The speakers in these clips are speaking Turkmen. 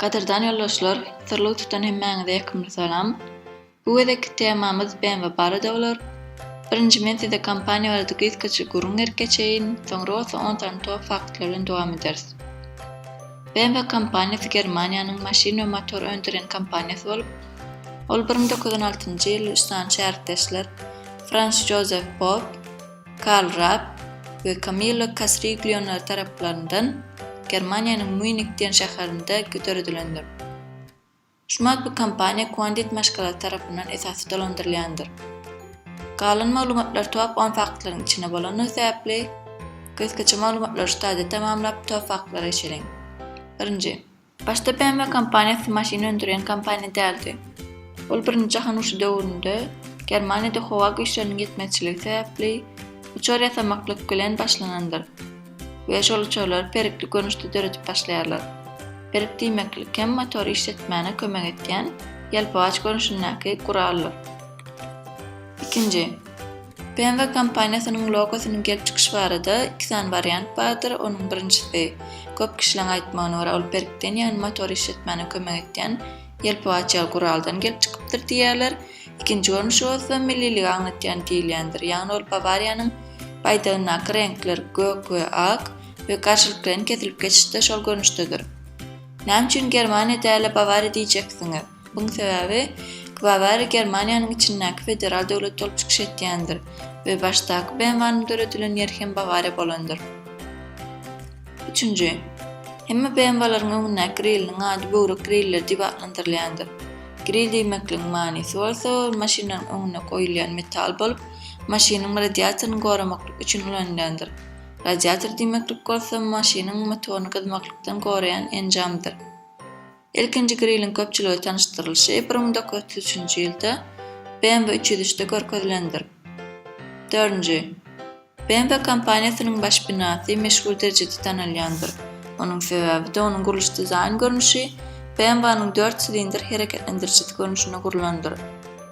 Gadyrdan ýoldaşlar, syrlygy tutan hemmäňize ýakymly salam. Bu gezekki temamyz BMW barada bolar. Birinji men size kompaniýa barada gysgaça gürrüň berip geçeýin, soňra bolsa on sany top faktlar bilen dowam ederis. BMW kompaniýasy Germaniýanyň maşyn we motor öndürýän kompaniýasy bolup, ol bir müň dokuz ýüz on altynjy ýyl üç sany şährtdeşler, Frans Jozef Popp, Karl Rapp we Kamillo Kasriglionlar taraplaryndan Germaniýanyň Mýunik diýen şäherinde döredilendir. Şu matbu kompaniýa Quandit maşgalasy tarapyndan esasy dolandyrylýandyr. Galan maglumatlar top on faktlaryň içinde bolandygy sebäpli, gysgaça maglumatlary şu taýda tamamlap top faktlara geçeliň. Birinji. Başda BMW kompaniýasy maşyn öndürýän kompaniýa däldi. Ol Birinji jahan urşy döwründe Germaniýada howa güýçleriniň ýetmezçiligi sebäpli uçar ýasamaklyk bilen başlanandyr we şol uçarlary perikli görnüşde döredip başlaýarlar. Perik diýmeklik hem motory işletmäne kömek etýän ýelpygaç görnüşindäki guraldyr. Ikinji. BMW kompaniýasynyň logosynyň gelip çykyşy barada iki sany wariant bardyr. Onuň birinjisi, köp kişileň aýtmagyna görä, ol perkden, ýagny motory işletmäne kömek etýän ýelpew açýan guraldan gelip çykypdyr diýýärler. Ikinji görnüşi bolsa, milliligi aňlatýan diýilýändir. Ýagny ol Bawariýanyň baýdagyndaky reňkler, gök we ak, we garşylyklaryn kesilip geçişde şol görnüşdedir. Näme üçin Germaniýa däl-de Bawariýa diýjeksiňiz? Buň sebäbi Bawariýa Germaniýanyň içindäki federal döwlet bolup çykyş etýändir we başdaky BMW-nyň döredilen ýeri hem Bawariýa bolandyr. Üçünji. Hemme BMW-laryň öňündäki grilliniň ady böwrek grilleri diýip atlandyrylýandyr. Grill diýmekligiň manysy bolsa ol maşynlaryň öňünde goýulýan metal bolup, maşynyň radiatoryny goramaklyk üçin ulanylýandyr. Radiator diýmeklik bolsa maşynyň motoryny gyzmaklykdan goraýan enjamdyr. Ilkinji griliň köpçülige tanyşdyrylyşy bir müň dokuz ýüz otuz üçünji ýylda BMW üç ýüz üçde görkezilendir. Dördünji. BMW kompaniýasynyň baş binasy meşhur derejede tanalýandyr. Onuň sebäbi-de onuň gurluş-dizaýn görnüşi BMW-nyň dört silindr hereketlendirijisi görnüşinde gurlandyr.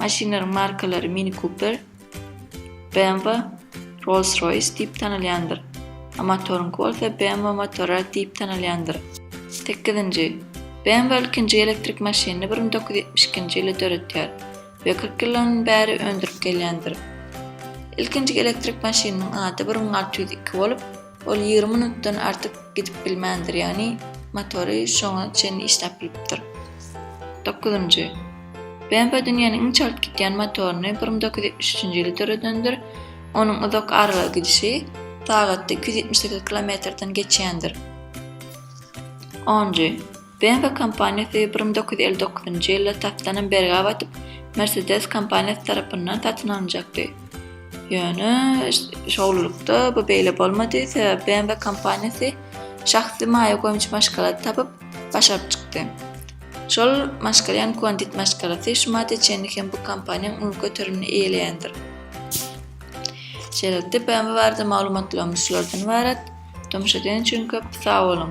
Maşynlaryň markalary Mini Cooper, BMW, Rolls-Royce diýip tanalýandyr. A motoryňky bolsa BMW motory diýip tanalýandyr. Sekizinji. BMW ilkinji elektrik maşynyny bir müň dokuz ýüz ýetmiş ikinji ýylda döretýär we kyrk ýyldan bäri öndürip gelýändir. Ilkinji elektrik maşynynyň ady bir müň alty ýüz iki bolup, Ol ýigrimi minutdan artyk gidip bilmändir, ýagny motory şoňa çenli işläp bilipdir. Dokuzynjy. BMW dünýäniň iň çalt gidýän motoryny bir müň dokuz ýüz ýetmiş üçünji ýyly döredendir. Onuň uzak aralyga gidişi sagatda iki ýüz ýetmiş sekiz kilometrden geçýändir. Onunjy. BMW kompaniýasy bir müň dokuz ýüz elli dokuzynjy ýylda tapdanam bergä batyp, Mercedes kompaniýasy tarapyndan satyn alynjakdy. Ýöne, şowlulykda bu beýle bolmady, sebäbi BMW kompaniýasy şahsy maýa goýumçy maşgalady tapyp, başaryp çykdy. Şol maşgala ýagny Condit maşgalasy şu madda çenli hem bu kompaniýanyň uly göterimini eýeleýändir. Şeýlelikde, BMW barada maglumatlarymyz şulardan ybarat. Tomaşa eden üçin köp sag boluň!